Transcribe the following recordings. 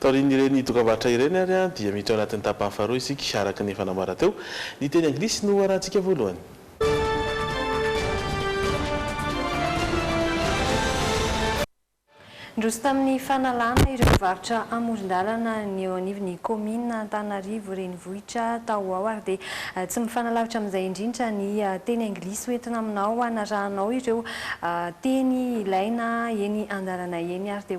Taorian'ireny dokam-barotra ireny ary dia miditra ao anatin'ny tapany faharoa isika, araka ny efa nambarako teo. Ny teny anglisy no hoarahantsika voalohany. Niroso tamin'ny fanalana ireo mpivarotra amoron-dalana ny eo anivon'ny kaominina Antananarivo renivohitra tao ao ary dia tsy mifanalavitra amin'izay indrindra ny teny anglisy hoentina aminao hanarahanao ireo teny ilaina eny an-dalana eny ary dia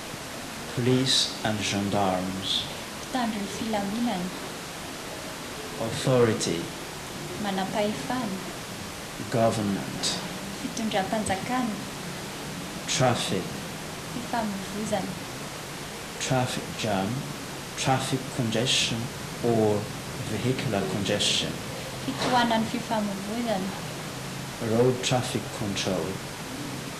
Police and Gendarmes. Mpitandro ny filaminana. Authority. Manampahefana. Government. Fitondram-panjakana. Traffic. Fifamoivoizana. Traffic jam, traffic congestion or vehicular congestion. Fitohanan'ny fifamoivoizana. Road traffic control.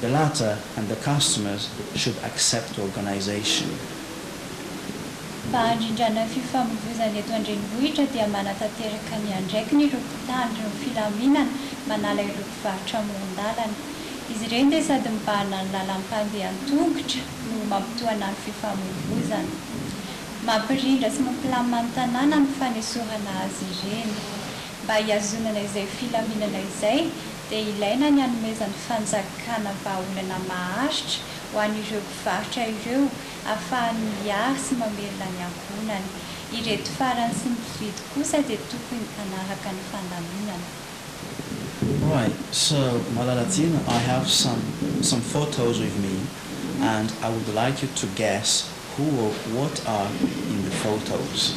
The latter and the customers should accept organisation. Mba handrindrana fifamoivoizana eto an-drenivohitra dia manatanteraka ny andraikiny ireo mpitandro ny filaminana manala ireo mpivarotra amoron-dalana. Izy ireny dia sady mibahana ny lalan'ny mpandeha an-tongotra no mampitohana ny fifamoivoizana. Mampirindra sy mampilamina ny tanàna ny fanesorana azy ireny. Mba hihazonana izay filaminana izay, dia ilaina ny anomezan'ny fanjakana vahaolana maharitra ho an'ireo mpivarotra ireo afahany miahy sy mamelona ny ankohonany. Ireto farany sy ny mpividy kosa dia tokony hanaraka ny fandaminana. Why, so malala tsena I have some some photos with me and I would like you to guess who or what are in the photos.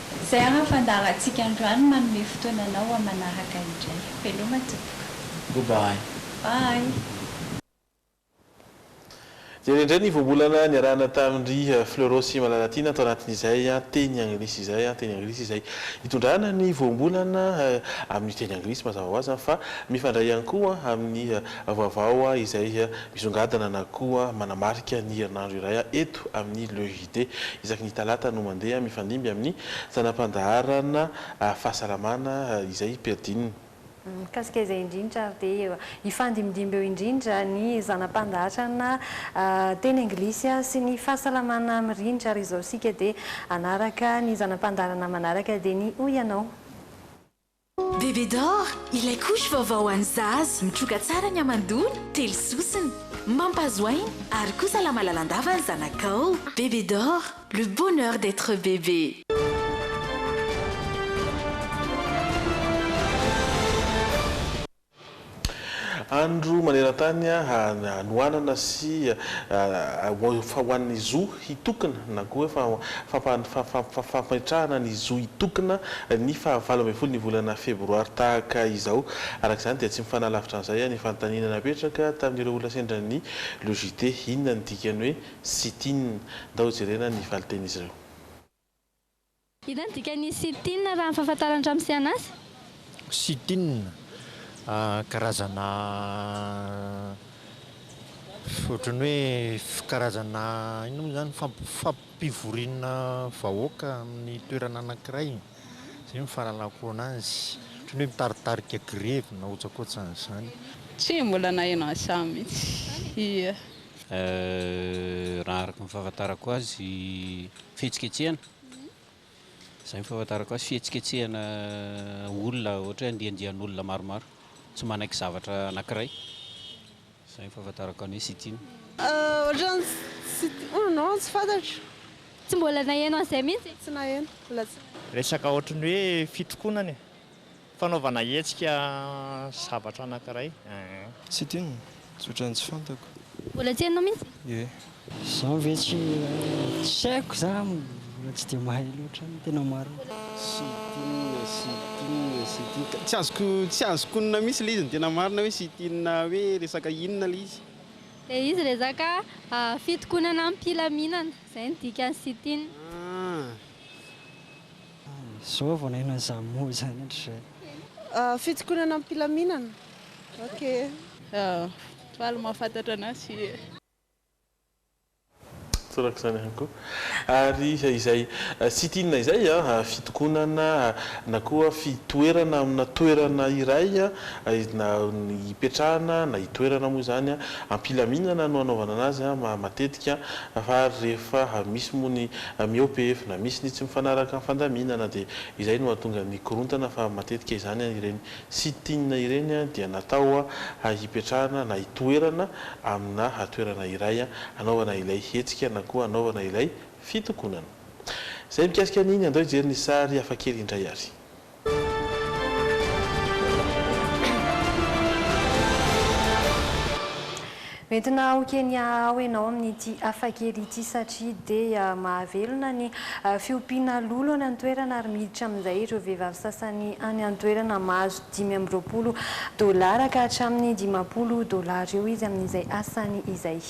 Zay ara fandaharantsika androany manome fotoana anao ho amanaraka indray. Veloma tompoko. Go bye. Bye. Jereo indray ny voambolana niarahana tamin-dry Fleurot sy Malalatiana tao anatin'izay teny anglisy izay, teny anglisy izay itondrana ny voambolana amin'ny teny anglisy mazava ho azy fa mifandray ihany koa amin'ny vaovao izay misongadina na koa manamarika ny herinandro iray eto amin'ny Le dia isaky ny talata no mandeha mifandimby amin'ny zana-pandaharana fahasalamana izay Perdine. Mikasika izay indrindra ary dia hifandimbindimby eo indrindra ny zana-pandaharana teny anglisy sy ny fahasalamana mirindra ary izao isika dia hanaraka ny zana-pandaharana manaraka dia ny hoy ianao. Bébé d'or, ilay couche vaovao ho an'ny zaza, mitroka tsara ny hamandoana, telo sosona. Mampahazo aina, ary koa salama lalandava ny zanakao. Bébé d'or, le bonheur d'etre bébé. Andro maneran-tany hanohanana sy famoahana ny zo hitokona na koa hoe fametrahana ny zo hitokona ny faha valo ambin'ny folo ny volana febroary tahaka izao. Araka izany dia tsy mifanà lavitra an'izay ny fanontaniana napetraka tamin'ireo olona sendra ny Le JT, inona ny dikan'ny hoe sit-in? Ndao jerena ny valintenin'izy ireo. Inona no dikan'ny sit-in raha ny fahafantaran'i Ramosiana azy? Sit-in, karazana ohatran'ny hoe karazana inona moa izany, fampivoriana vahoaka amin'ny toerana anankiray, izay no fahalalako anazy, ohatran'ny hoe mitaritarika grevy na otsakoatran'izany. Tsy mbola naheno an'izany mihitsy. Raha araka ny fahafantarako azy fihetsiketsehana, izay no fahafantarako azy, fihetsiketsehana olona ohatra hoe andiandian'olona maromaro tsy manaiky zavatra anankiray, izay no fahafantarako ny hoe sit-in. Ohatran'ny sit-in, oh non, tsy fantatro. Tsy mbola naheno an'izay mihitsy e. Tsy naheno, mbola tsy naheno. Resaka ohatran'ny hoe fitrokonana e, Fanaovana hetsika zavatra anankiray eh. Tsy ity no tsotra ny tsy fantako. Mbola tsy hainao mihitsy? Ie. Izaho ve tsy tsy haiko izaho mbola tsy dia mahay loatra ny tena marina. Tsy ity inona sy ity inona sy ity inona. Tsy azoko tsy azoko onona mihitsy ilay izy ny tena marina hoe sy ity inona hoe resaka inona ilay izy. Ilay izy resaka fitokonana amim-pilaminana. Izay no dikany sy ity inona. Ah. Zao vao naheno an'izany mot izany hatrizay. Fitokonana amim-pilaminana, ok. Faly mahafantatra an'azy. Tsorako izany ihany koa. Ary izay sit-in izay, fitokonana na koa fitoerana amina toerana iray na hipetrahana na hitoerana moa izany, am-pilaminana no anaovana an'azy matetika fa ary rehefa misy moa ny Miope efona, misy ny tsy mifanaraka amin'ny fandaminana dia izay no hahatonga ny korontana fa matetika izany ireny sit-in ireny dia natao hipetrahana na hitoerana amina toerana iray hanaovana ilay hetsika na koa hanaovana ilay fitokonana. Izay mikasika an'iny andao hijery ny sary hafakely indray ary. Entina ao Kenya ao ianao amin'ity hafakely ity satria dia mahavelona ny fiompiana lolo any an-toerana ary miditra amin'izay ireo vehivavy sasany any an-toerana mahazo dimy amby roapolo dolara ka hatramin'ny dimampolo dolara eo izy amin'izay asany izay.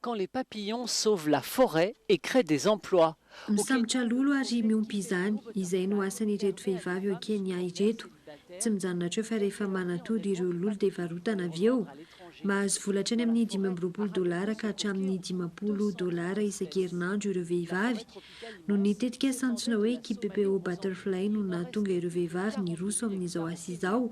Quand les papillons sauvent la forêt et créent des emplois au Kenya. Misambotra lolo ary miompy izany, izay no asan'ireto vehivavy ao Kenya ireto. Tsy mijanona hatreo fa rehefa manatody ireo lolo dia varotana avy eo. Mahazo vola hatrany amin'ny dimy amby roapolo dolara ka hatramin'ny dimampolo dolara isan-kerinandro ireo vehivavy. Noho ny tetikasa antsoina hoe Kipepeo Butterfly no nahatonga ireo vehivavy niroso amin'izao asa izao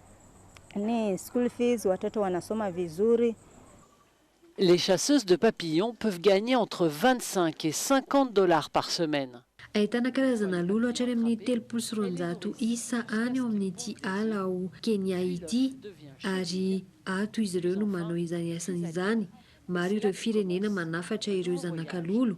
ny school fees ohatra atao ana soma visory. Les chasseuses de papillons peuvent gagner entre vingt-cinq et cinquante dollars par semaine. Ahitana karazana lolo hatrany amin'ny telopolo sy roanjato isa any ao amin'ity ala ao Kenya ity, ary ato izy ireo no manao izany asany izany. Maro ireo firenena manafatra ireo zanaka lolo.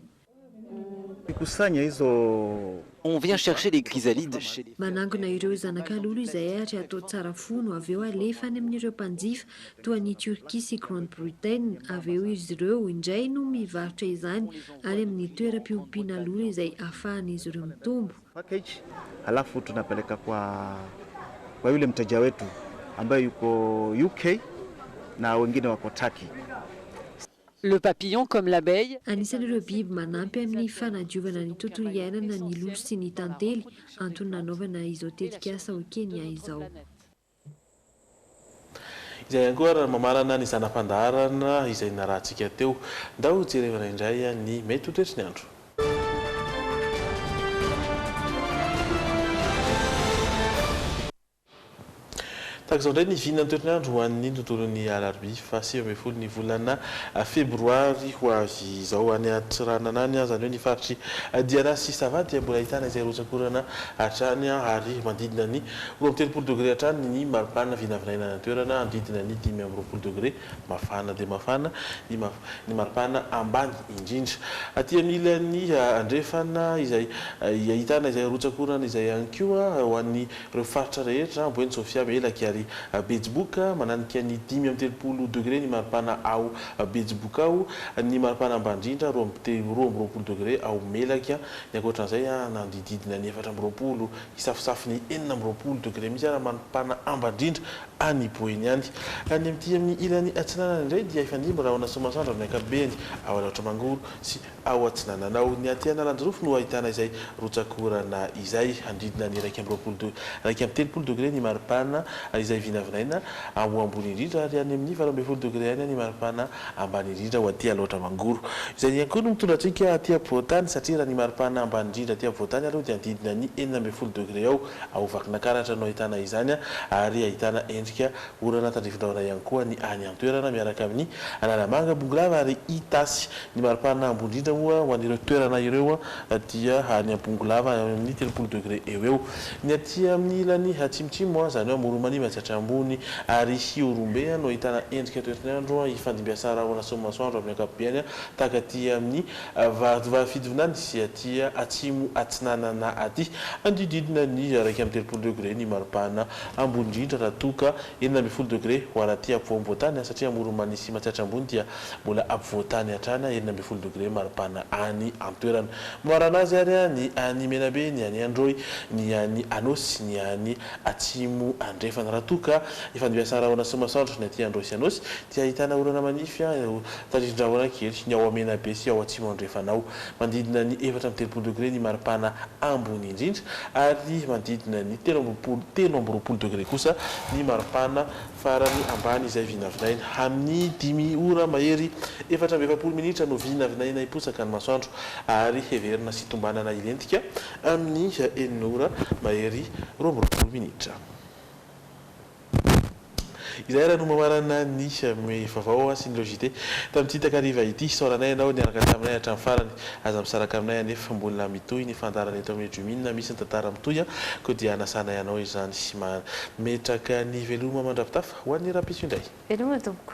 On vient chercher les chrysalides. Manangona ireo zanaka lolo izay ary atao tsara fo no avy eo alefa any amin'ireo mpanjifa toa an'i Turquie sy Grande Bretaine avy eo izy ireo indray no mivarotra izany ary amin'ny toeram-piompiana lolo izay afahan'izy ireo mitombo. Le papillon comme l'abeille. Anisan'ireo biby manampy amin'ny fanadiovana ny tontolo iainana ny lolo sy ny tantely, antony nanaovana izao tetikasa ao Kenya izao. Izay ihany koa ary no mamarana ny zana-pandaharana izay nirahantsika teo. Ndao jerevana indray ny mety ho toetry ny andro. Tahaka izao indray ny vina ny toetr'andro ho an'ny tontolon'ny alarobia faha sivy ambin'ny folo ny volana febroary ho avy izao. Any Antsiranana any izany hoe ny faritr'i Diana sy Sava dia mbola ahitana izay rotsak'orana hatrany ary manodidina ny roa amby telopolo degre hatrany ny maripana vinavinaina any an-toerana hanodidina ny dimy amby roapolo degre Mafana dia mafana ny ny maripana ambany indrindra. Aty amin'ny ilany andrefana izay ahitana izay rotsak'orana izay ihany koa ho an'ireo faritra rehetra, Amboeny, Sofia, Melaky ary Betsiboka. Mananika ny dimy amby telopolo degré ny maripana ao Betsiboka ao. Ny maripana ambany indrindra roa amby te roa amby roapolo degré ao Melaky. Ny ankoatran'izay nanodididina ny efatra amby roapolo, hisafosafo ny enina amby roapolo degré mihitsy ary maripana ambany indrindra any Boeny any. Any amin'ity amin'ny ilany atsinanana indray dia hifandimby rahona sy masoandro amin'ny ankapobeny ao Alaotra Mangoro sy ao atsinanana ao. Ny aty Analanjirofo no ahitana izay rotsak'orana izay. Handridona ny iraika amby roapolo de, iraika amby telopolo degre ny maripana izay vinavinaina ho ambony indrindra ary any amin'ny valo ambin'ny folo degre any ny maripana ambany indrindra ho aty Alaotra Mangoro. Izay ihany koa no mitondra antsika aty ampovoan-tany satria raha ny maripana ambany indrindra aty ampovoan-tany aloha dia handridona ny enina ambin'ny folo degre eo. Ao Vakinakaratra no ahitana izany ary ahitana endrika orana tandrifindrahona ihany koa ny any an-toerana miaraka amin'ny Analamanga, Bongolava ary Itasy. Ny maripana ambony indrindra moa ho an'ireo toerana ireo dia any Bongolava any amin'ny telopolo degre eo eo. Ny aty amin'ny ilany atsimotsimo, izany hoe Amoron'Iva sy Atrambony ary Hiorombe no ahitana endrika toetr'nyandro ifandimbiasan'ny rahona sy ny masoandro amin'ny ankapobeny tahaka aty amin'ny Varidva Fidivinany sy aty atsimo atsinanana aty hanodidididina ny iraika amby telopolo degré ny maripana ambony indrindra raha toa ka enina ambin'ny folo degré ho ary aty ampovoamboatany satria Amoron'Mania sy Matsiatra Ambony dia mbola ampovoantany hatrany enina ambin'ny folo degré maripana any antoerana. Mamarana azy ary ny any Menabe, ny any Androy, ny any Anôsy, ny any Atsimo Andrefana. Raha toa ka efa niasa rahona sy masoandro ny aty Androy sy Anôsy dia ahitana orana manify ireo tanin-drahona kely, ny ao Menabe sy ao Atsimo Andrefana ao. Manodidina ny efatra amby telopolo degre ny maripana ambony indrindra ary manodidina ny telo amby roapolo, telo amby roapolo degre kosa ny maripana farany ambany izay vinavinaina amin'ny dimy ora mahery. Efatra amby efapolo minitra no vinavinaina hiposaka ny masoandro ary heverina sy tombanana hilentika Amin'ny enina ora mahery roa amby roapolo minitra. Izay ary no mamarana ny Mihomehy Vaovao sy ny Le JT tamin'ity takariva ity. Isaoranay ianao niaraka taminay hatramin'ny farany. Aza misaraka aminay anefa, mbola mitohy ny fandaharana eto amin'ny Drumina, misy ny tantara mitohy an! koa dia hanasanay anao izany. Mametraka ny veloma mandravitafa ho an'ny rahampitso indray. Veloma tompoko.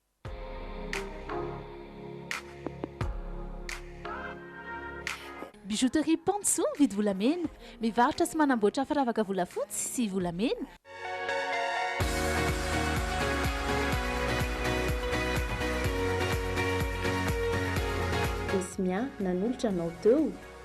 Bijouterie Pantsou mividy volamena. Mivarotra sy manamboatra firavaka volafotsy sy volamena. Esmia, nanolotra anao teo?